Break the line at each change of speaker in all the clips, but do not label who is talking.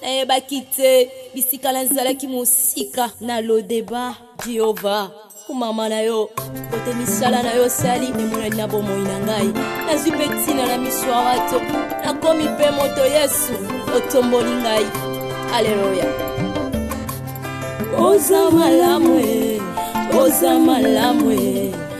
Nayebaki te bisika nazalaki mosika na lodeba Jehova kumama na yo kote misala na yo sali emonani na bomoi na ngai nazwi mpe ntina na miso ya bato nakomi mpe moto yesu otomboli ngai aleluya oza malamu oza malamu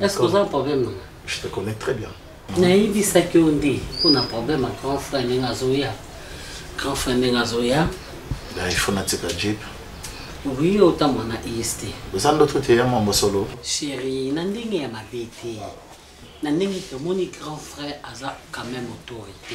Est-ce que vous avez un problème, maman Je te connais très
bien. nayebisaki
yo nde mpo na problème ya grand frère ndenge azoya grand frère ndenge azoya il faut
natika jeep oui
otambwa na est oza ndoto te ya
mambo solo chéri na ndenge
ya mabe te na ndenge tomoni grand frère aza quand même autorité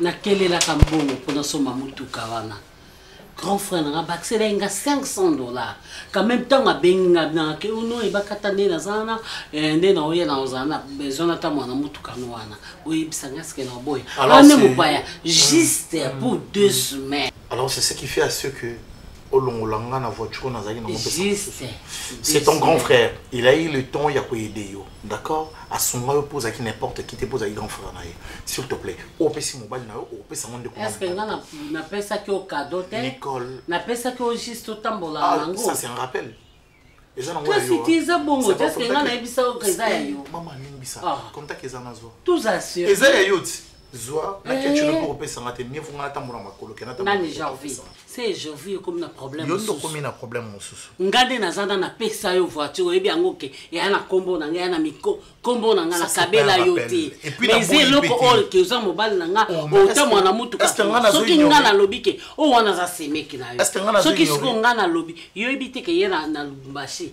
nakelelaka mbongo mpo nasomba motuka wana grand frère nanga bakisela ye nga 500 dollars quand même ntango abengi nga nake ono ebakata nde naza wana eh, nde naoya na ozala na besoin ata mwana motukano wana oyebisa nga sike naoboya ane ah, mopaya juste hmm. pour deux hmm. semaines alors c'est ce qui fait
à ce que olongola nga na voiture nazalaki na c'est ton grand frère il a eu le temps ya koyede yo d'accord asunga yo mpo ozalaki n'importe qui te mpo ozalaki grand frère na ye s'il te plaît oyo opesi mobali na yo opesa yango ndeko est-ce que nga na-
napesaki yo kado te Nicole. napesaki
yo juste
otambola Ah, nango ça c'est un rappel
eza nango ya Kasi yo, hein. te eza
bongo C'est te, pas est-ce que contact. nga nayebisa yo ke eza ya yo? mama alimbisa Ah.
contact eza nazwa tozala eza ya
yo ti
zwa na ketchup eh. mpo kopesa nga te mieux nga atambola makolo ke nani janvier
se janvier ekomi na problème yo nde okomi na problème
mosusu nga nde naza na
napesa yo voiture oyebi yango ke eya na nkombo na nga eya na miko nkombo na nga nakabela yo te mais eloko oyo ke oza mobali na nga oh, ota mwana motuka soki nga nalobi ke oyo oh, wana aza semeki na yo soki sikoyo nga nalobi yo oyebi te ke ye na lubumbashi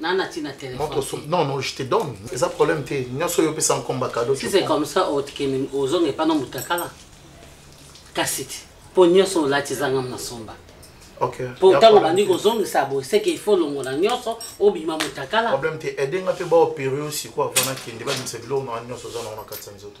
na na tina téléphone
non non je te donne eza problème te nyonso oyo opesa nkomba cadeau
si c'est comme ça otikemi ozonga epa na mutakala kasi te mpo nyonso olati ezanga na somba mpo
ntango obandi
kozongisa boye seke ifo longola nyonso obima mutakala problème te
edenga mpe baopere yo sikoyo avana kende babimisa biloko na wana nyonso oza na wana kati ya nzoto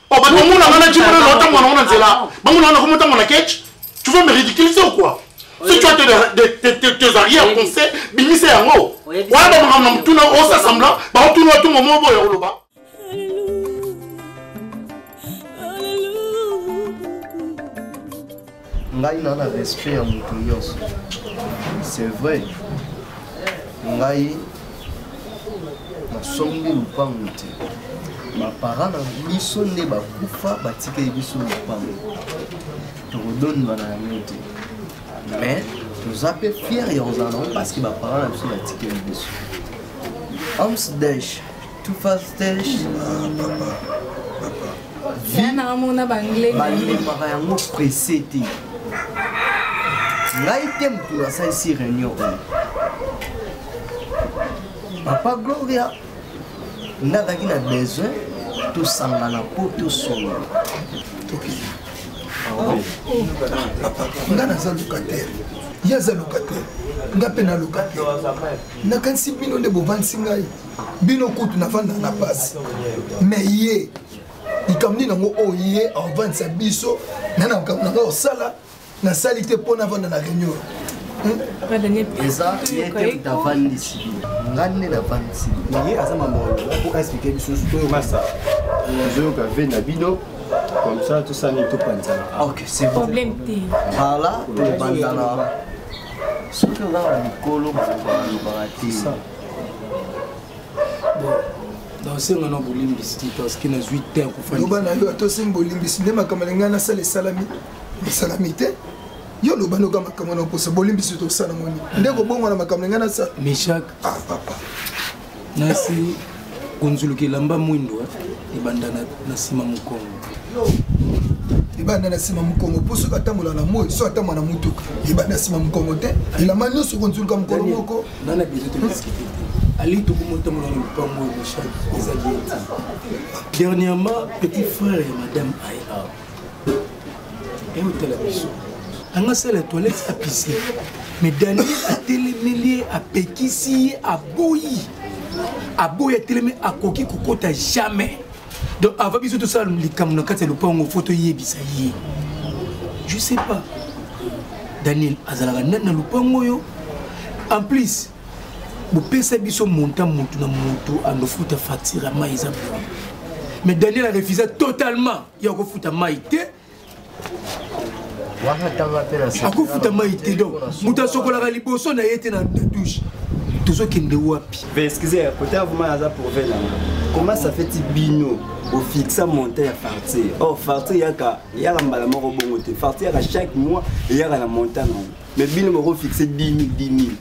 Oh, bato bamona nga na jimona na otambola nango na nzela ah, bamona nga nakoma otambola na ketch tu veux me ridiculiser ou quoi si tu as tes arrière conseil bimisa yango wana bamakambo na motuna osa semblant baotuna oto momo oboya koloba
ngai na na respect ya moto nyonso c'est vrai ngai nasombi lupangu te bapara na biso nde bakufa batikeli biso lupangu tokodonima na yango te mais toza mpe fiere ya kozala nango parce que bapara na biso batikeli biso amsdesh balembaka yango presse te ngai te motu nasalisi réunion oyo papa gloria nga azalaki na besoin tosangana mpo tosolola
nga naza locataire ye aza locataire nga mpe na locataire nakanisi bino nde bovandisi ngai bino kutu nafanda na pasi me ye likambo nini yango oyo ye avandisa biso na na makambo na ngai osala nasali te mpo navanda na réunion hmm?
eza ye te utavandisi ngai nde navandisi ye aza mamolo po
explike biso masa ozoyoka ve na bino comme ça tosani topanzana ah, ok c'est problème
te
ala
topanzana soki oza na mikolo balobaka te
osenga na bolimbisi te parceke nazwi te ya kofandisaloba na yo ata osengi bolimbisi nde makambo na ngai nasala esalami esalami te yo oloba noka makambo na okosa bolimbisi tosala moni nde kobongo na makambo na ngai nasala meshak ah, papa nasi
konzuluka elamba mwindo eh, ebanda na nsima mokongo
ebanda na nsima mokongo mpo soki atambola na moi so atambola na motuka ebanda na nsima mokongo te elamba nyonso konzuluka mokolo moko nga na besoin todiskite
te ali tokomotambola na lopango ya michel eza bien te dernièrement petit frère ya madame ai awa eotala biso anga sala toilette apise mais daniel atelemeli ye apekisi ye aboyi aboyi atelemi akoki kokota jamais donc avant biso tosala likambo na kati ya lopango fo toyebisa ye je sais pas daniel azalaka nani na lopango oyo en plus bopesa biso montant motu na motu andofuta facture ya mai eza mais daniel arefusa totalement ya kofuta mai te akofuta mai te donc moto asokolaka liboso na ye te na douche tozokende wapi excusez kote ya
vraimen aza prouve nanga comment ça fait bino ofixa monte ya fartier or oh, fartier yaka yaka mbala moko bongo te fartier yaka chaque mois eyaka na montant nango mais bino bako fixe 10 000 10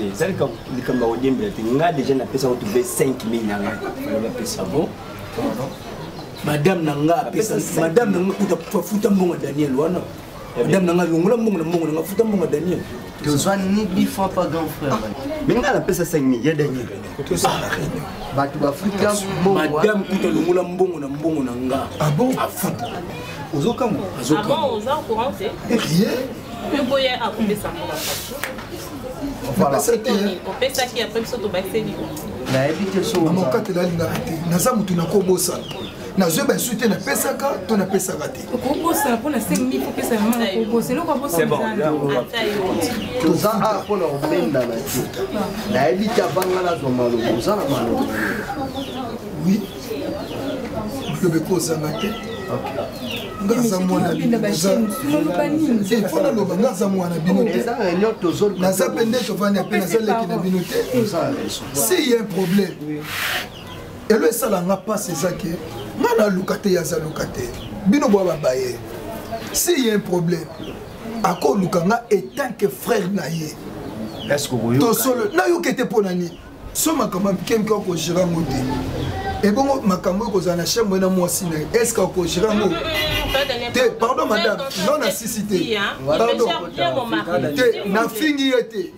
000eza likambo
ya
kodiembela te nga deja napesa kotube 5 000 na ngai fana bapesa bo
madame na nga apesa madame na nga kuta futa mbongo ya daniel wana madame na nga longola mbongo na mbongo na nga futa mbongo ya daniel tozwa nibi
fois pas grand frère mais ngai napesa
5000 ya dernier
bato bafuta madame kuta longola
mbongo na mbongo na nga ah afuta ozokamwa
rien
mpe boya
akopesa mbongo opesaki apres biso
tobakiseli nayebi te
sookatelalingaka
te naza motu nakobosana nazwi baesu te napesaka to napesaka te okobosana mpo na 5000
kopesa ya mama kobosa eloko abotoza
a mpo na kobenda na te nayebi te abanga nazwa maloba oza na maloba
oui maloba ekozanga te ngaza mwana fona loba ngaza mwana bino te naza mpe nde tovandi mpe naza leki na bino te si ye problème elo esala nga mpasi eza ke nga naluka te yaza luka te bino bwa babaye si ye un problème akoluka nga etant que frère na ye tosolo nayoka ete mpo na nini so makambo ya mike mike okogera yango
te
ebongo makambo oyo kozala na chambre na mwasi na ye est ce que okogera yango te pardon madame non nasisi te pardon te nafingi ye te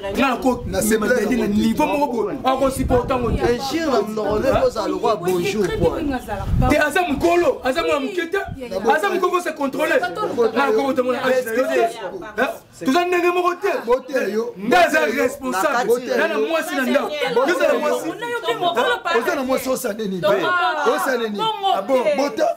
nakokiadi na niveau moko boye akosupporte yango teinjire na mnoko nde
kozala lokola bonjour te
aza mokolo aza mwana moke te aza mokolo kose controle nakokotamona toza ndenge moko te nde aza responsable na na mwasi na ndako ozala mwasi osala
nini osala nini bota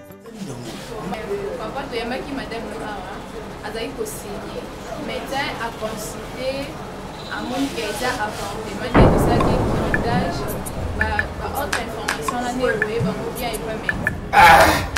papa toyambaki madame awa azali kosigne médecin aconsulte amoni ke eza avortement nde tosalaki montage baautre information na nde oye bango bia epa médecin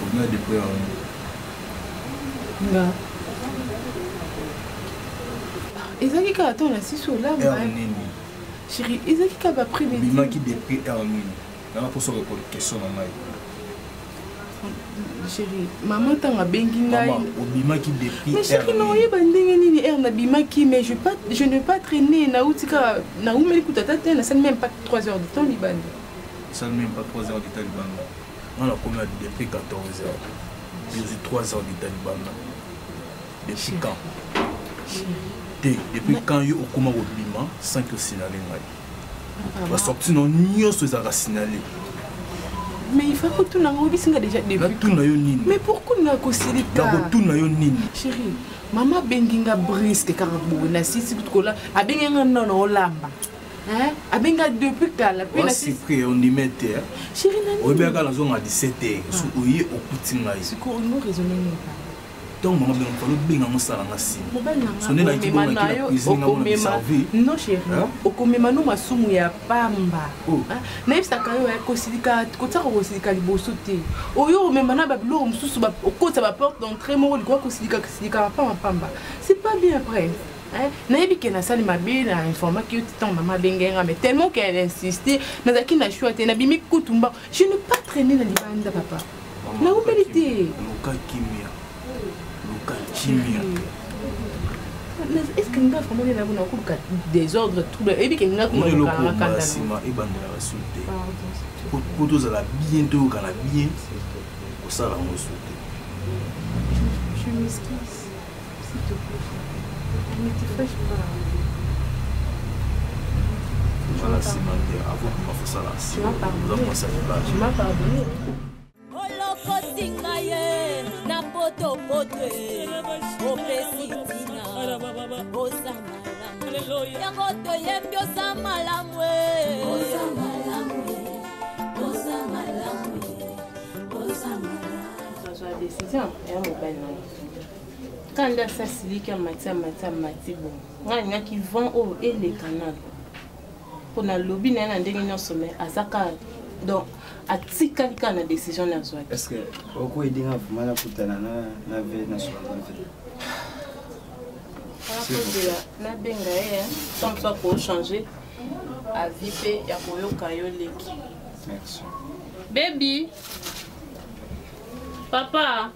Combien de prix en Nga. Ezaki kaka to na sisi olamba. Heure nini? Chérie, ezaki kaka ba prix beti. Bimaki de prix heure
nini? Nanga poso ko question na ngai.
Chérie, maman tanga bengi ngai. Maman, obimaki de
prix heure. Mais chérie, na oyeba
ndenge nini heure na bimaki mais je pas je ne pas traîner na utika na umeli kutata te na sali même pas 3 heures de temps libanda.
esali meme pas 3 heures d'etat libanda
nga
nakomi adi depuis 14 heures biozwi 3 heures d'etat libanda depuis quand te depuis quand yo okoma kobima sans que osignale ngai basorti na nyonso ezalaka signale
mais il faut kotuna ngo bisinga déjà début natuna yo nini mais pourquoi na kosilika nakotuna yo nini chérie mama abengi nga briske kaka boye na sisi kutukola abengi nga nano olamba Hein? abenga depuis kala mpe nasipri ondime
te chéri nani oyebaka
nazonga 17
te so oye okuti ngai sikoyo olingo raisonne
nini ntango mama benga
mokalo obenga ngo sala nga simaokomema
no masumu ya pamba oh. ah, nayebisaka yo eh, kosilika kotiaka kosilika liboso te oyo omema na babiloko mosusu okotisa baporte d'entrée moko likoya kosilika kosilika mapamba pamba c'est pas bien après Hein? nayebi ke nasali mabe na informaki yo ntango mama abengaki nga mais tellement ke elle insiste nazalaki na choix te nabimi kutu mbango je ne pas traîne na libanda papa naumeli te luka kimia luka kimia est ce que nga vraiment nde nabona okoluka désordre trouble eyebi ke nga kumaokaakandasima ebandelaka su te po tozala bien toyokana bien kosala yango su te olokosinga ye na potopoto opesi ntina oza malamu yango
toyembi oza malamu azwa
decision ya mobali na kaka nde asi asiliki amati amati amati boye ngai nalingaki vent oyo eleka nano mpo nalobi na ye na ndenge nyonso mai aza kaka donc atikali kaka na décision na azwaki est ce que
okoyedinga vraimen nakutana na ve na sola na ve akozela
nabenga ye sans mosu akochange avi mpe ya koyoka yo leki
bebi
papa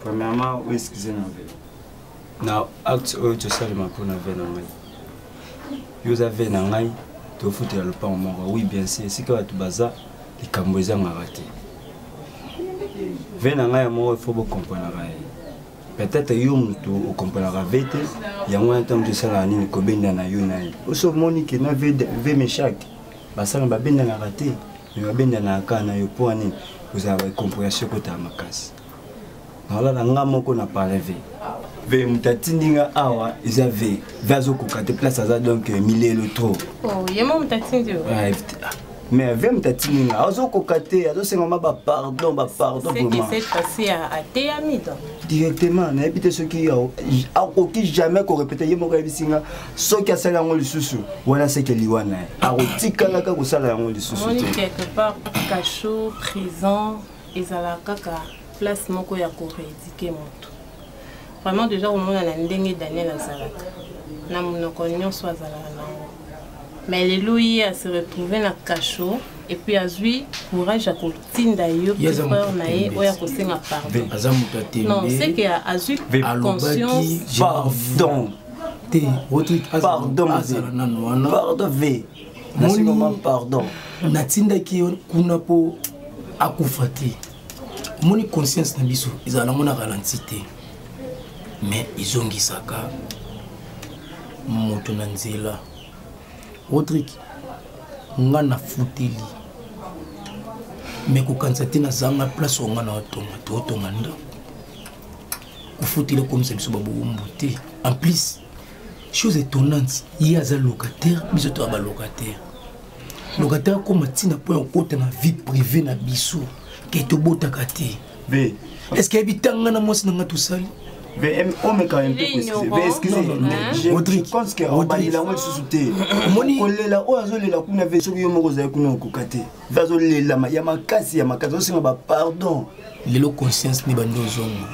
premièrement o excuse na ve na acte oyo tosalema mpo na ve na ngai yo oza ve na ngai tofutela lopango moko oui bien sûr esika bato baza likambo ezangaka te ve na ngai ya moko ifo bokomprenaka ye peut-être yo moto okomprenaka ve te yango wana ntango tosalaka nini kobenda na yo na ye oso omoni ke na ve mechake basala babendanaka te me babendanaka kaka na yo mpo ane ozala bakomprehension ekotala makasi naolala nga moko na pareve ve moto atindi nga awa eza ve ve azokoka te place aza donc euh, milelo trop oh,
ah, ah.
mais ve moto atindi nga azokoka te azosengama bapardon bapardon
directement
nayebi te soki akoki jamais korepete ye moko ayebisi nga soki asali yango lisusu wana seke liwa na ye akotikalaka kosala yango lisusu te quelque part
cachot prison ezala kaka place moko ya koredike moto vraiment deja komona na ndenge daniel azalaka na monoko nyonso azalaka nango mais lelo ye ase retrouve na cachot epuis azwi courage ya kotinda yo peur na ye oyo akosenga pardon non seke azwi conscience pardon
te
rodrik azala
nano wana pardon ve nasikoma pardon natindaki yo
kuna mpo akufa te omoni conscience na biso ezala nango na ralenti te mais ezongisaka moto na nzela rodrik nga nafuteli me kokanisa te nazanga place onga na otonga te otonga ndako kofutela okomisa biso babowumbu te en plus chose étonnante ye aza locataire biso toya balocataire locataire akoma ntina mpo ya kokota na vie privé na biso ke tobotaka te est-ce que ayebi ntanga na mwasi na ngai tosali
omeka mpe excuse omoni kolela oyo azolela kuna ve soki yo moko ozali kuna okoka te mpe azolelama ya makasi ya makasi azosenga bapardon lelo conscience
nde bandi ozonga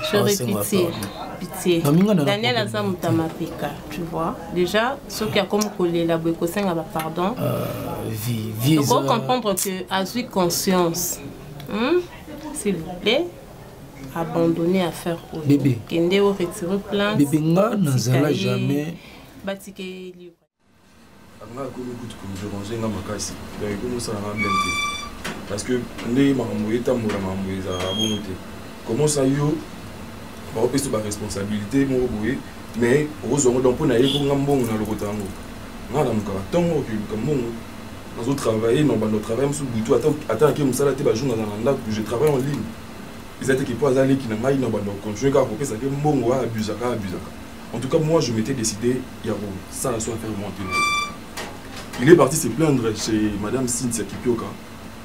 daniel aza moto ya mapeka tu vois déjà soki akomi kolela boye kosenga bapardon euh, okoki comprendre que azwi conscience hmm? s'il vous plaît abandonne affaire oyo kende
oretire
plainte bebe nga nazala
jamais batikeli
anga
akomi kutu komiderange nga makasi donc ekomi osala nga bien te parce que ndenge makambo etambola makambo ezalaka bongo te comment ça yo baopesa baresponsabilité moko boye mais okozwa yango donc mpo na ye mpo nga mbongo na lokota yango nga namukaka ntongo okiluka mbongo nazo travaille na bando travaille mosusu butu ata ake mosala te bajour naza na ndako je travaille en ligne eza te ke mpo aza leki na ngai na bando continue kaka kopesa te mbongo abusaka abusaka En tout cas, moi, je m'étais décidé, Yaro, ça la soit faire mon Il est parti se plaindre chez Madame Cynthia Kipioka,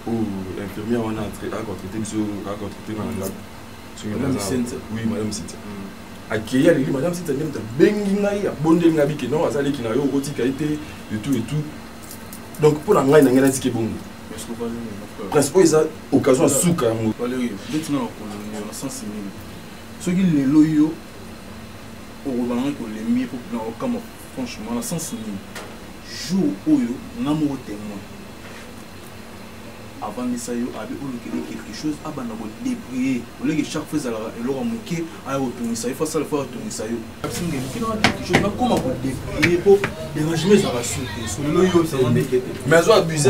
où l'infirmière on a traité, a traité, a traité dans la Madame Cynthia. Oui, Madame Cynthia. Mm. akeyi aleli madame sita nde moto abengi ngai abondeli ngai bike non aza leki na yo okotika ye te etout etout donc mpo na ngai na ngai natiki ebongo prince oyo eza occasion ya suka yango soki lelo yo okobanga kolembi po na okamwa franchement na sens nini jour oyo nga moko témoin avandisa yo abi olukeli quelque chose abanda kodebrie oleke chaque fois ezalaka eloko ya moke aya kotungisa yo fasala fo atungisa yo nakoma kodebrie po derangement ezalaka sur te solelo yo mais azo abuse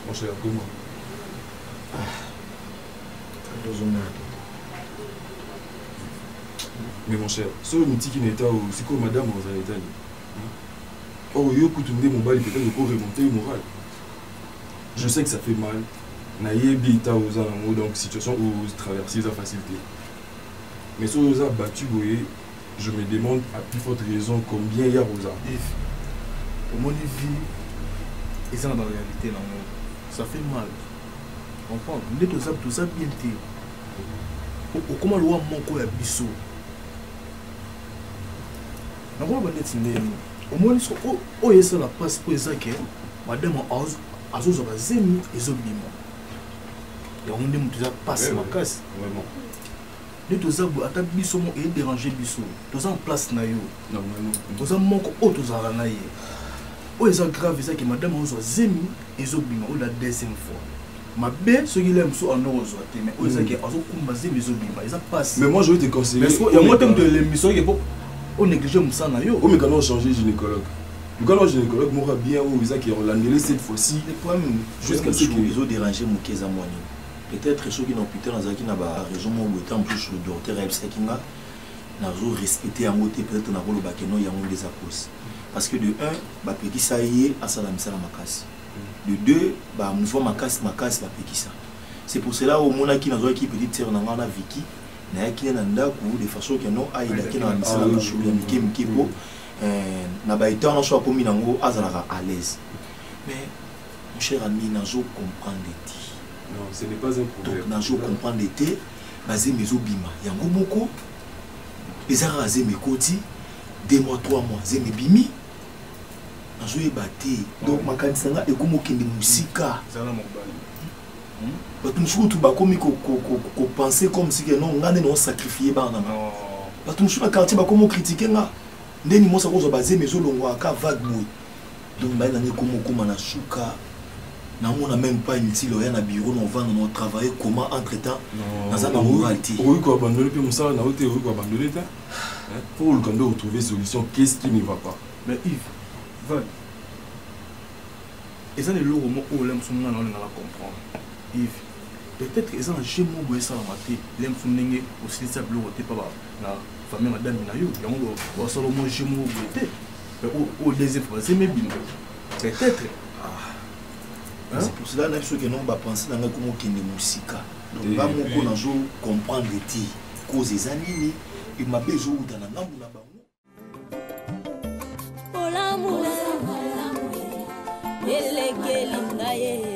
Poso ya goma. Ah. Dozo mwana. mais mon cher soki omotiki na eta oyo sikoyo madame ozala eta nini or yo kutu nde mobali peut-être oko remonte ye moral je sais que ça fait mal nayebi eta oza nango donc situation otraverse eza facile te mais soki oza battu boye je me demande à plus forte raison combien ya rosa efi
omoni vie eza na baréalité na yango ça fait mal comprendre nde toza toza bien te okoma lowa moko ya biso nakoloba ndeti nde yango omoni so oyo esala mpasi mpo eza ke madame azozwa bazemi ezobima yango nde moto eza mpasi makasi nde toza boye ata biso moko ederange biso toza na place na yo oza moko oyo tozalaka na ye oyo eza grave eza ke madame ozwa zemi ezobima oyo la deuxième fois mabe soki le mosusu ando kozwa te mais oyo ezaki hmm. azokumba zemi ezobima eza pasi mais moi je vais te conseiller
yango te moto elembi
soki po onéglige mosala na yo omekana ochange
gynécologue lukana gynécologue moko bien oyo ezaki ya olandele cette fois-ci
jusqu'à ce que ezoderange moke eza mwanini peut-être soki na hôpital nazalaki na ba raison moko boye ntango mosusu docteur ayebisaki nga nazo respecte yango te peut-être nakoloba ke no yango nde eza cause parce que de un bapekisa ye asala misala makasi de deux bamouvement makasi makasi bapekisa c'est pour cela omonaki nazwaki petite sœur na ngai wana viki nayaki ne na ndako de façon ke no ayedaki na misala mosusu ya mike mike mpo na baetan nyonso akomi nango azalaka à l'aise mais Mon cher ami, nazo comprendre te. Non, ce n'est pas
un problème. Donc nazo comprendre te,
bazemi ezo bima. Yango moko eza kaka zemi ekoti 2 mois 3 mois zemi bimi nazo yeba te. Donc makanisa nga ekomo kende musika. Zala mobali.
Hmm?
Bato mosusu kutu bakomi kopense comme si ke non nga nde nao sacrifie bana na nga. Bato mosusu na quartier bakomi okritike nga. Ndeni mosa kozwa bazemi ezolongwa aka vague boye. donc baye na ngai komokoma na suka namona même pas inutile oya na bureau na ovanda na otravaille comment entre temps naza na moral te okoki koabandone mpe
mosala na yo te okoki koabandone te mpo oluka nde otrouve solution qu'est ce qui ne va pas mais yves
val eza na eloko moko oyo lemoso nga na olingala comprendre yves peut-être eza na jeu moko boye esalama te lemoso ndenge osilisa biloko te mpa na famille madame na yo yango basala mwa jeu moko boye te oyo deuxième fois c'est mebino peut-être ah.
c'est pour cela nayebi soki non bapense na ngai komokende mosika donc nga eh, moko eh. nazo comprendre te cause eza nini e mabe ezowuta na ngambo na bango bolamu elekeli ngai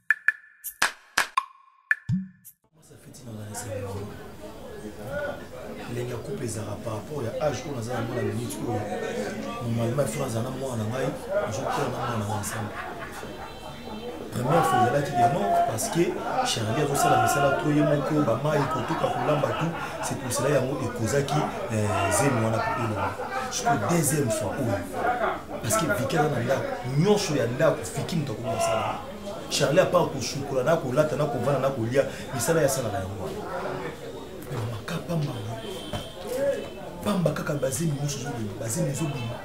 ndenge ya couple ezalaka par rapport ya age oyo naza yango na minute oyo normalement ifo nazala na mwana na ngai nazokutana na mwana na ngai ensemble première fois ezalaki de non parce que charlie azosala misala to ye moko bamai kotoka kolamba tu c'est pour cela yango ekozaki eh, zemi wana po elonga siko deuxième fois oyo parce que viki aza na ndako nyonso ya ndako fiki moto akomi kosala charlie apart kosukola na kolata na kovanda na kolia misala ya sala na yango wana mamaka pamba pamba kaka bazemi nyonso ezobima bazemi ezobima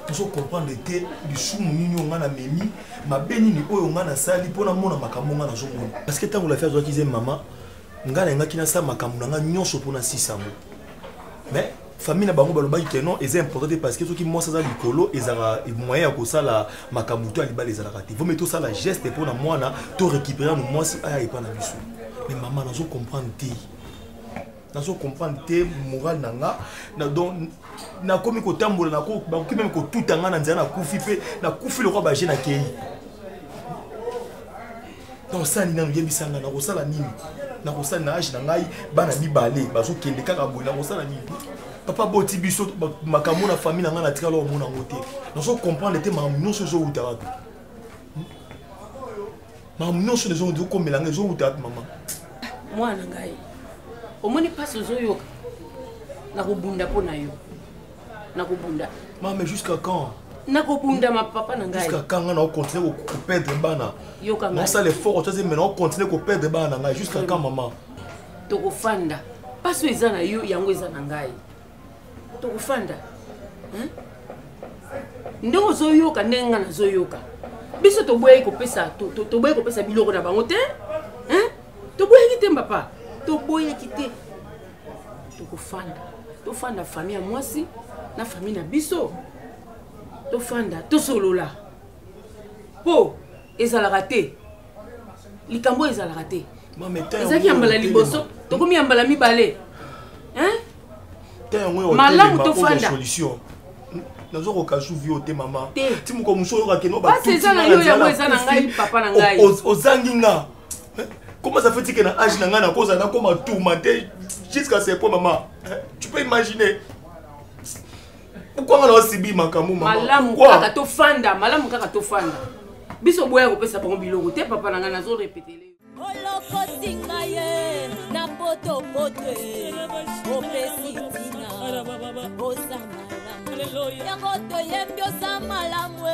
tozo comprendre te lisumu nini oyo ngai namemi mabe nini oyo ngai nasali mpo namona makambo ngai nazomona parce que ntango lafi azwaki ze mama ngai nayengaki nasala makambo na ngai nyonso mpo nasisa yango mais famille na bango balobaki ke non eza important te parce que soki mwasi aza likolo ezalaka moyen ya kosala makambo to ya libala ezalaka te vomi tosala geste mpo na mwana to récupere yano mwasi aya epa na biso mais mama nazo comprendre te nazo comprendre te moral na nga na donc nakomi kotambola nako bakoki meme kotuta nga na nzela nakufi mpe nakufi lokola baje na kei osali nanu yebisa ngai nakosala nini nakosali na age na ngai bana mibale bazokende kaka boye nakosala nini papa boti biso makambo na famille na ngai natikala omona yango te nazo comprendre te makambo nyonso ezowuta wapi hmm? makambo nyonso ezokomela ngai ezowuta wapi mama mwana
ngai omoni mpasi ozoyoka nakobunda mpo na yo nakobunda ma mais jusqu'à
quand nakobunda ma
papa na ngai jusqu'à quand nga na ocontinue
koperdre bana nasala
effort otaze me na
ocontinue koperdre bana na ngai jusqu'à quand mama tokofanda
mpasi oyo eza na yo yango eza na ngai tokofanda ndenge ozoyoka ndenge ngai nazoyoka biso toboyaki kopesa toboyaki kopesa biloko na bango te toboyaki te mbapa toboyaki te tokofanda tofanda fami ya mwasi na fami na biso tofanda tosolola mpo ezalaka te likambo oyo ezalaka te ezalaki ya mbala liboso tokomi ya mbala mibale malamu tofanda nazokoka
zuvi yo te mama ti moko mosu
oyokakenoozangi nga
Comment ça fait que na âge na nga na koza na koma tourmenté jusqu'à ce point maman. Hein? Tu peux imaginer pourquoi nga na sibi makambo maman. Malamu kaka to
fanda, malamu kaka to fanda. Biso boya kopesa bango biloko te papa na nga nazo répéter. Olokoti
nga ye na poto poto opesi tina oza malamu yango toyembi oza malamu e.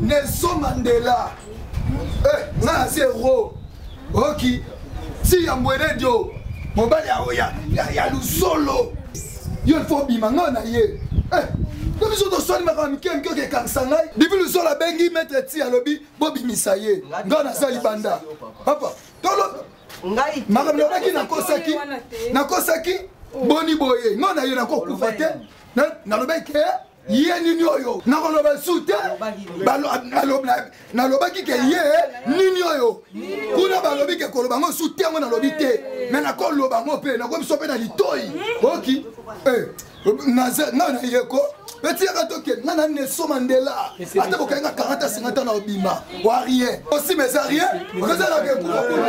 nelson mandela eh, nga na zero oki si ya mbweredio mobali ya, ya, ya lusolo yo ilfo obima ngai na ye eh, to biso toswani makambo mike mike oke ekangisa ngai bibi lusolo abengi maître ti alobi bobimisa ye ngai naza libanda papa tolo makambo
nalobaki
nakosaki nakosaki boni boye ngai na ye nakokufa te nalobaki ke ye nini oyo nakoloba lisusu te nalobaki ke ye nini oyo kuna balobi ke koloba yango lisusu te yango nalobi te me nakoloba yango mpe nakomi biso mpe na litoi oki eh, naza ngai na yeko etiyaka toke ngai na neso mandela ata bokai nga 40 a 50 na obima wa rien osima eza rien okozalaka ekuba kuna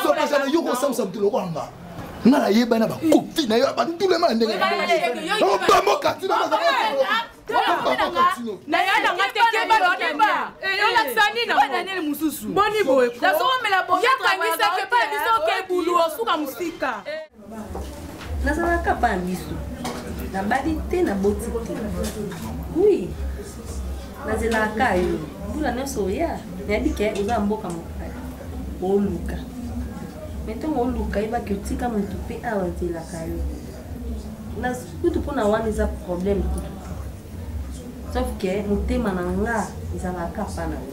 okokasana yo kosamisa moto lokola nga nga nayeba na bakofi na yo batula ma na ndenge bamo kati na mosusu boni
boye yakangisaki epai biso okebulu osuka mosika nazalaka pa na biso nabali te naboti te wi nazelaka yo mbula nyonso oya nayebi ke oza ya mboka mopaya oluka me ntongo oluka yebaki otika motu mpe awa azelaka yo kutu mpona wana eza problème kutu sauf ke motema na nga ezalaka pa na yo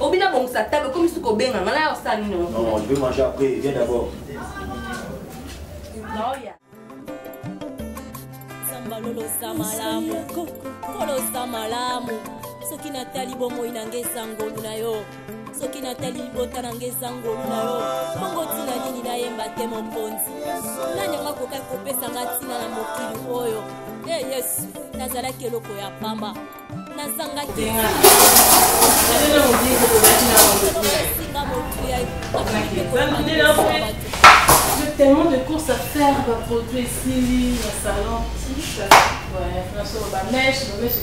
obina bongisa table okomi suka obenga nga naya osala nini non je vais manger
après viens
d'abord naoya lolosa malamu kolosa malamu soki natali bomoi na ngai esangolu na yo soki natali libota na nga eza ngolu na yo bongo ntina nini nayemba te mokonzi nani yango akokaki kopesa nga ntina na mokili oyo e hey, yesu nazalaki eloko ya pamba nazangaki tellement de courses à faire, va produire
ici, le salon. Ouais, franchement, ma mèche, ma mèche,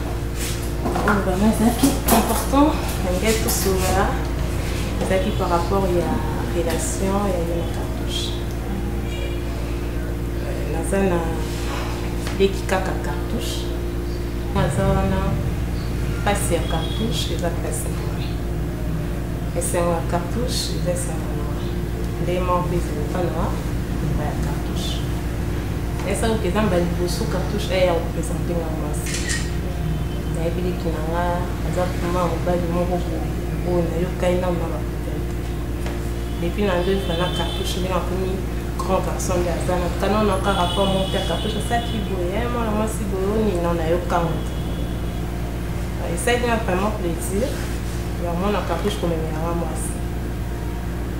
oyo vraiment ezalaki important ngai tosolola ezalaki par rapport ya relation ya ye na cartouche euh, naza na leki kaka cartouche naza wana mpasi ya cartouche eza mpasi na ngai esengo ya cartouche eza esengo na ngai nde moko mpe ezalaka na ya cartouche esakoki eza mbala liboso cartouche aya kopresente ngai nayebi leki na nga aza vrima mobali moko oyo nayokani nano na bakuta te depuis na ndoyi fana cartouche ndenge akomi grand garçon nde aza na kano na ka rapport moko te cartouche asaki boye eh, mwana mwasi boyoni na nayokango te ah, esalaki na vraiment plaisir ya mwana cartouche komemela nga mwasi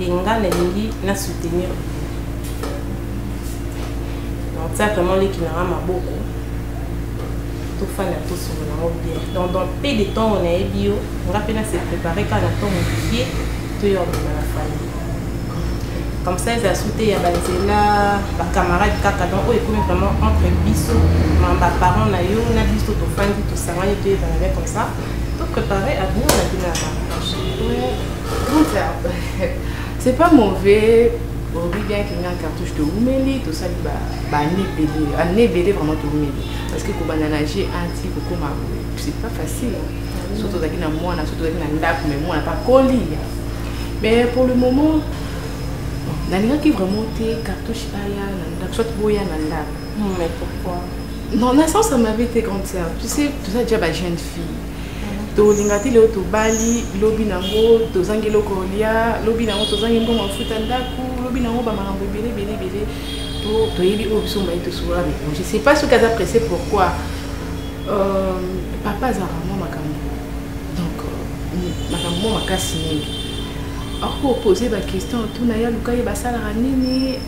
et nga nalingi na soutenir donc ça vraiment leki na nga maboko tofanda tosolo nango bien donc dans peu de temps oyo nayebi yo nga mpe nase prépare kaka na ntongo mokie toyo abima na famille comme ça eza soute ya banzela bacamarade kaka donc oyo ekomi vraiment entre biso ma baparent na yo na biso tofandi tosangani toyebana bien comme ça toprépare avenir na bino ya mariage c'est pas mauvais olobi bien ke nga cartouche toumeli tosali bane ebele ane ebele vraiment toumeli parce que kobanda na g anti kokoma c'est pas facile soki tozalaki na mwana soki tozalaki na ndako mais mwana pakoli mais pour le moment nalingaki vraiment te cartouche aya na ndako soit boya na ndako mais pourquoi non na sens ya mabe te grande sœur tu sais toza déjà ba jeune fille tolinga te lelo tobali lobi nango tozangi eloko olia lobi nango tozangi mbongo afuta ndako lobi nango bamakambo ebele ebele ebele toyebi oyo biso mbaye tosola mikolo je sais pas soki aza presse pourquoi euh, papa azalaka mwa makambo donc euh, makambo mwa makasi mingi akopose baquestion tuna ye aluka ye basalaka nini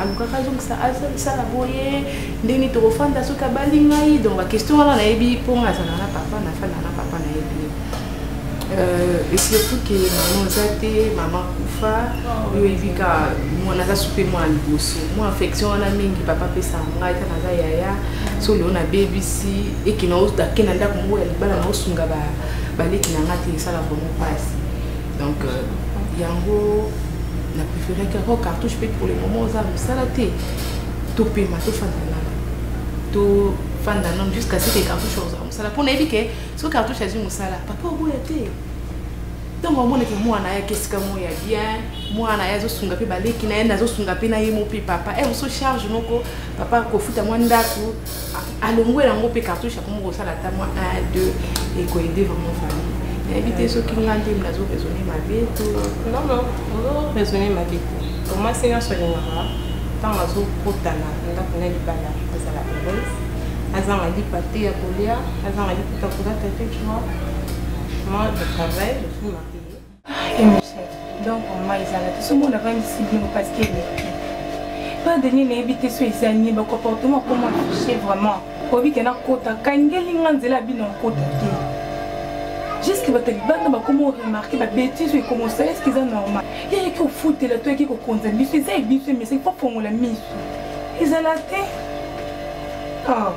alukaka azongisa asala boye ndenge nini tokofanda soki abali ngai donc baquestion wana nayebi mpo ngai azala na papa nafanda na papa nayebi ye euh, esurtout ke mama oza te mama kufa oyo oyebi ka mwana aza supe mwana liboso mwa affection wana mingi papa apesaka ngai ta naza yaya so leo nabebisi eke naake na ndako moko ya libala naosunga baleki na ngai te esala vraimen mpasi donc euh, yango na préféré kaka cartouche mpe pour le moment oza mosala te topema tofanda nana tofanda nano jusqu'à ce que cartouche ozala mosala mpo nayebi ke soki cartouche azwi mosala papa oboya te ntango amonaki mwana ayaki esika moko ya bien mwana ye azosunga mpe baleki na ye nazosunga mpe na ye mo mpe papa e eh, moso charge moko papa kofuta mwa ndako alongwe yango mpe cartouche akomi kosala ata mwa 1 2 ekoyede vraiment famille nayebi te soki nga nde nazo raisonne mabe to non non ozo raisonne mabe te tomasi nyonso alingaka ntango azokotana ndako na libala azala heureuse azanga lipa te ya kolia azanga lipa te ya kolata te tu vois moi je travaille je suis mariée donc vraiment ezalaki soki mona avandisi bino parce que eleki pa deni nayebi te so eza nini bacomportement akoma affiche vraiment oyebi ke nakota kangeli nga nzela ya bino nkota te juske bato libanda bakoma oremarke babetise oyo ekomosa eske eza normal yayaki ofutela to yaki kokonza biso eza ebiso emesaki mpo fongola miso ezala te oh.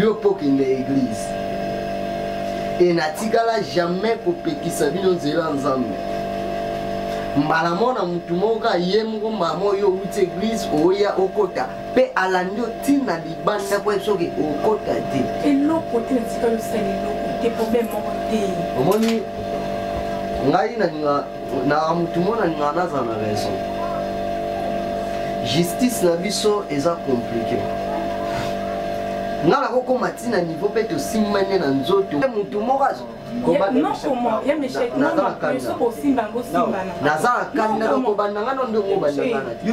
yo mpo okende eglize e natikala jamais kopekisa bino nzela ya nzambe mbala moko na motu moko kaka ye moko mbala moko yo outi eglize oya okota mpe alandi otina libanda mpo soki okota te eloko te natikala osala eloko
te problème moko te omoni
ngai nalinga na mutu mwana ninga naza na raison justice na biso eza compliqué nga nakokoma ti na niveau mpe tosimbani na nzoto motu moko azo
naza na kanda
nakobanda nga no ndenge
obandangana
te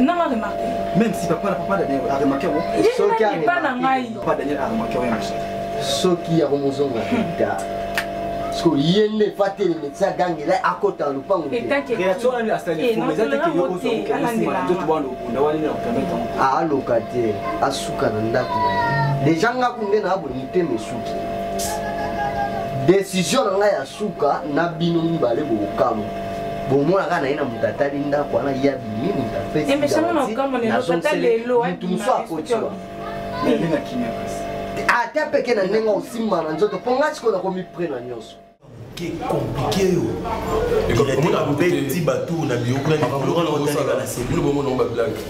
nanga remarke même si papa na papa
daniel aremarke yango soki epa na ngai papa daniel
aremarke yango
yango soki
ya komozonga ta soki ye nde efa teleme ti agangela akota na lopango aloka te asuka na ndako deja nga kunde na abwe mitema esuki desizio na ngai ya suka na bino mibale bokokamwa bomonaka na ye na moto atali ndako wana ye abimi moto
apesimutu mosu
akotiwa
ata peke na
ndenge osimba na nzoto mpo ngai sikoyo nakomipre na nyonso
compliqué yo omona bobeti bato na biyokuna na kolokana otalaka na se bino bomona ngo bablanke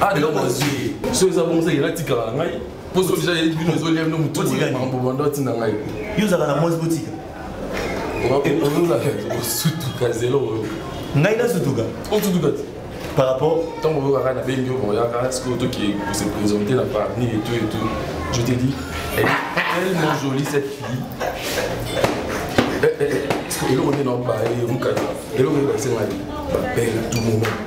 Ah, eloko azwi so eza bongo ezakela tikala na ngai mpo so deja yebi bino ezolia bino motu makambo banda otinda ngai yo ozalaka na mwasi
botika
osutuka zelo oyo ngai nasutuka
osutuka te
par rapport
ntango oyokaka na bengi
yo boyaka sikoyo toki se présenter na parmi et tout et tout je te dis elle est tellement jolie cette fille eh, eh, eh, eloko nde naobaye mokata eloko nde basengai babele tout moment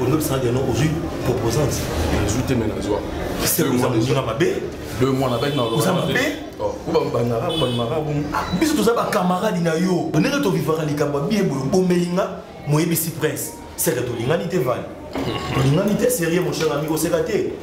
olingi bisanga deno ozwi proposante nazwi te me
nazwa oza
mabe deux mois na baki naoza
mabe oh,
obabangaka
obamaka bongo ah, biso toza
bakamaradi na yo ndenge tovivaka likambo ya biye boye obomeli nga moyebisi prince seke tolingani te vale tolingani te serie mon cher ami koseka te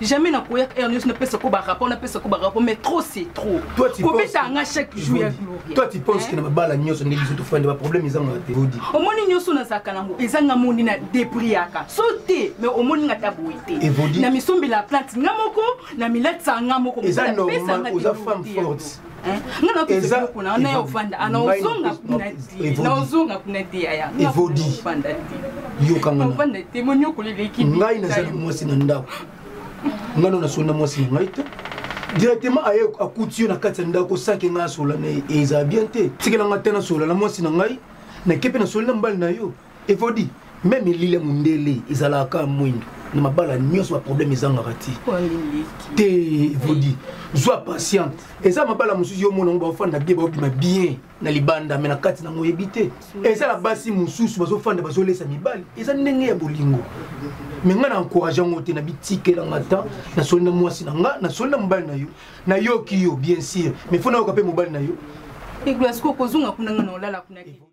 jamais na koya heure nyonso napesa ko barapport napesa ko barapport mais trop c'est trop kobeta nga
chaque jour ya
gloria toi tu penses que na babala
nyonso nde biso tofandi baproblème eza ngaka te odi omoni nyonso nazalaka
nango eza nga moni na depriaka so te mais omoni nga ta boye te na misombela plante nga moko na milatisa nga moko eza normal
oza femme forte
naozonga
kuna te
yaya ngai
nazali mwasi na ndako ngai no
nasoli na
mwasi na ngai te directement aye akuti yo na kati ya ndako sake ngai asola na ye ezala bien te tikela ngai te nasola na mwasi na ngai nakepe nasoli na mbali na yo efodi me milile mondele ezalaka mwindo na mabala nyonso baproblème ezangaka ti te evodi zwa patiente eza mabala mosusu yo omona yango baofanda bie baobima bien na libanda me na kati nango oyebi te eza na basi mosusu bazofanda bazolesa mibali eza ndenge ya bolingo me ngai na encourage yango te na bitikelanga ta nasoli na mwasi na ngai nasoli na mobali na yo nayoki yo bien sûr me fo nayoka mpe mobali na yo eglasiko
kozonga kuna ngai na olala kuna te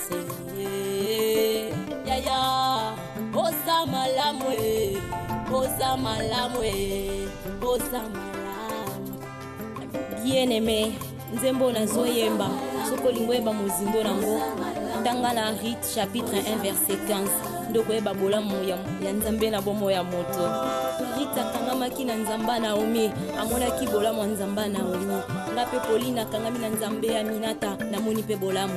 bien aimé nzembo nazoyemba soki olingi oyeba mozindo nango tanga na rite chapitre 1 verset 15 nde okoyeba bolamu ya nzambe na bomo ya moto rite akangamaki na nzamba naomi amonaki bolamu ya nzamba naomi nga mpe polina akangami na nzambe ya minata namoni mpe bolamu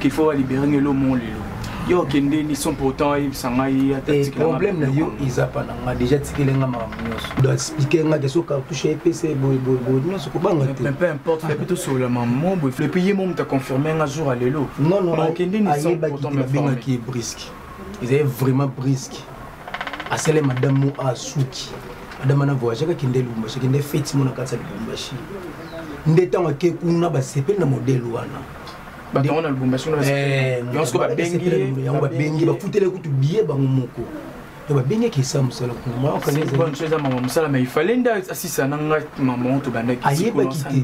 qu'il faut libérer ngelo mon lelo yo okende ni son pourtant ayebisa ngai problème na
yo eza pa na ngai déjà tikele ngai makambo nyonso do explike ngai deso cartouche ya epesa ye boyeboyeboye nyonso kobanga te peu importe fepe tosolola
mamo boye epuis ye mo moto aconfirme nga jour ya lelo non non okende ni
son pourtant
abengaki ye briske
ezali vraiment briske asali madame mo asuki madame ana voyage kaki nde lubumbashi kende feti mo na kati ya lubumbashi nde ntango ake kuna basepeli na modele wana bato yango na
lubumbashi kuna eh, yango siko
babengi yango babengi bafutele kutu biye bango moko babengaki esa mosala kunamaeza mama mosala ma
ifale nde asisa na ngai mama oyo tobandaki ayebaki
te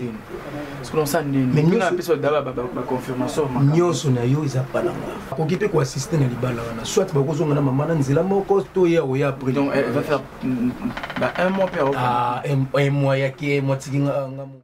nyonso na yo
eza palanga akoki mpe koassiste na libala wana soit bakozonga na mama na nzela moko to ye akoya après un
mois
yaki mois tiki nga